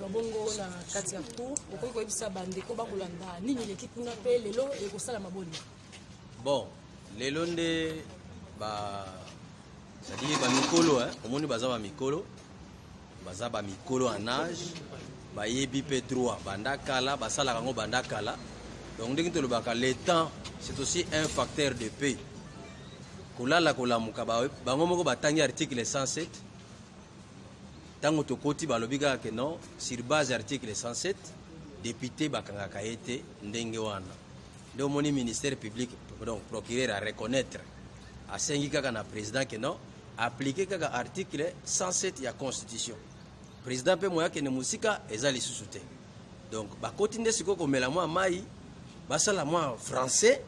na bongo na kati ya cour okoki koyebisa bandeko bakolanda nini eleki kuna mpe lelo ekosalama boni bon lelo nde ba sadili bamikolo omoni baza bamikolo baza bamikolo en age bayebi mpe droit banda kala basalaka yango banda kala donc ndenge tolobaka le temps c'est aussi un facteur de paix kolala kolamuka bango moko batangi article 107 ntango tokoti balobi kaka ke non sur base article 107 depute bakangaka ye te ndenge wana nde omoni ministère public donc procureur a reconnaître asengi kaka na président ke non aplike kaka article 107 ya constitution président mpe moye akende mosika eza lisusu te donc bakoti nde sikoyo komela mwa mai basala mwa français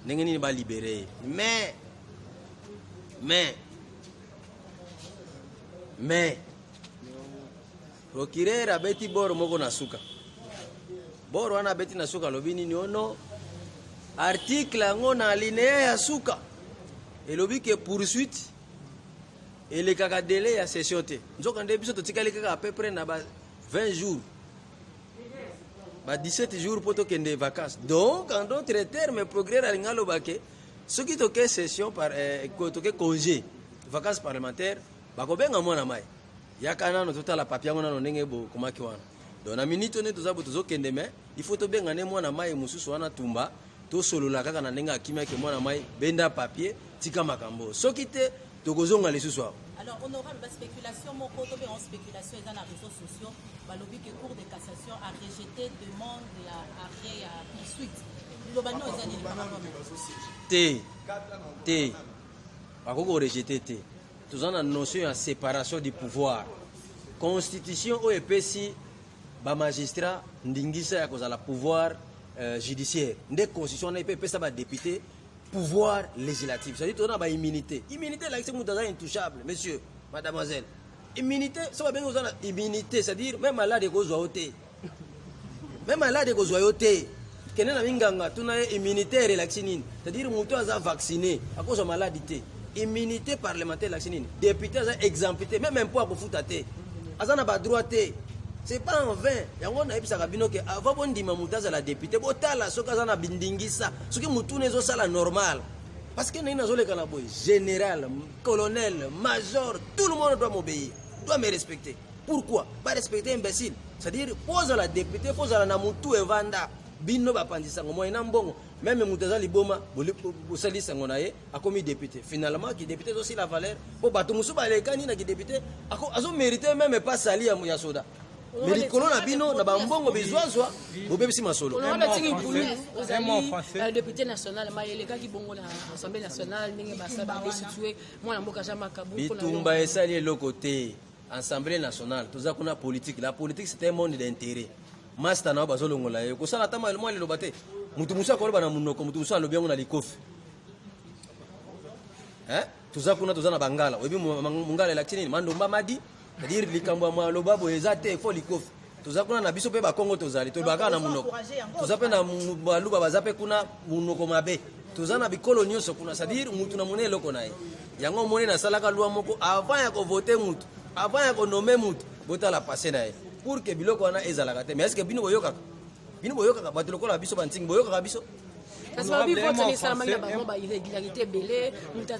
ndenge nini balibere ye mais mais mais procureur abeti boro moko na suka boro wana abeti na suka alobi nini ono article yango na alinea ya suka elobi ke poursuite elekaka delai ya session te nzoka nde biso totikali kaka à peu près na ba 20 jours ba 17 jours mpo tokende vacances donc en d'autres termes procureur alingi aloba ke soki toke session par eh, toke congé vacances parlementaires bakobenga mwana mai yaka nano totala papi yango nano ndenge bokomaki wana donc na minute one toza bo tozokende me il faut tobenga ne mwana mai mosusu wana tumba tosolola kaka na ndenge akimaki mwana mai benda papier tika makambo soki te tokozonga lisusu awa Alors, honorable, la spéculation, mon côté, en spéculation, dans les réseaux sociaux, bah, le but que Cour de cassation a rejeté demande et a arrêté à poursuite. Globalement, ils ont dit par rapport à T. T. Bakoko rejeté T. Tous en notion de séparation du pouvoir. Constitution oyo epesi ba magistrat ndingisa ya kozala pouvoir euh, judiciaire nde constitution wana epe epesa ba député pouvoir législatif cest tozana ba immunité immunité elakisi moto aza intouchable monsieur mademoiselle immunité so babengi oza na immunité c'est-à-dire même malade ekozwa yo te même malade ekozwa yo te kende na minganga tuna ye immunitaire elakisi nini c'est-à-dire moto aza vacciné akozwa maladi te immunité parlementaire elakisi nini député aza exempté même impôt akofuta te aza na badroit te c'est pas en vain yango nayebisaka bino ke avant bondima moto azala député botala soki aza na bindingisa soki motuna ezosala normal parce que ndenge nazoleka na boye général colonel major tout le monde doit m'obéir doit me respecter pourquoi ba respecter imbécile c'est-à-dire mpo ozala député mpo ozala na motu evanda bino bapanzi sango moye na mbongo meme moto aza liboma bosali sango na ye akomi député finalement kidéputé ezosila valeur mpo bato mosusu balekani na kidéputé azomérite meme epa sali ya soda Mais likolo na bino na ba mbongo bizwazwa bobebisi masolo. On a tiki pulu ozali euh, député national ma elekaki bongo na Assemblée nationale ndenge basa ba destituer mwana mboka Jean Makabu. Bitumba esali eloko te. Assemblée nationale toza kuna politique. La politique c'est un monde d'intérêt. Masta na bazolongola ye kosala tama mwa liloba te. Mutu musa koloba na munoko mutu musa alobi yango na likofi. Hein? toza kuna toza na bangala oyebi mongala elakisi nini mandomba madi cetadire likambo ya maloba boye eza te fo likofi toza kuna na biso mpe bakongo tozali tolobaka na monoko toza mpe na baluba baza mpe kuna monoko mabe toza na bikolo nyonso kuna cetadire mutu na moni eloko na ye yango omoni nasalaka lwa moko avant ya kovote mutu avant ya konome mutu botala passe na ye pour que biloko wana ezalaka te mais est ce que bino boyokaka Bino boyokaka bato lokola biso bantingi boyokaka biso kasi babi vote esalamaki na bango ba irrégularité ebele moto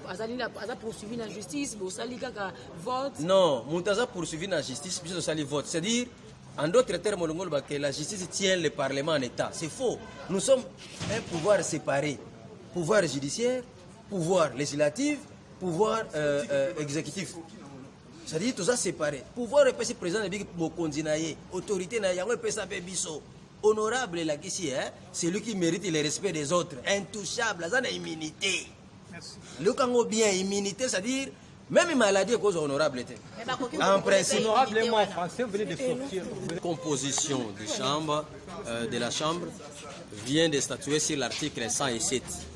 azali aza poursuivi na justice bosali kaka vote non moto aza poursuivi na justice biso tosali vote c'est à dire En d'autres termes, que la justice tient le Parlement en état. C'est faux. Nous sommes un pouvoir séparé. Pouvoir judiciaire, pouvoir législatif, pouvoir euh, euh, exécutif. Ça dit toza séparé. Pouvoir epesi président ebiki mokonzi na ye, autorité na yango epesa pe biso. Honorable la kisi hein, celui qui mérite le respect des autres, intouchable, aza na immunité. Merci. Lokango bien immunité, ça dire même maladie cause honorable était. Eh ben, en principe. Honorablement français, vous venez de sortir. Composition de chambre, euh, de la chambre vient de statuer sur l'article 107.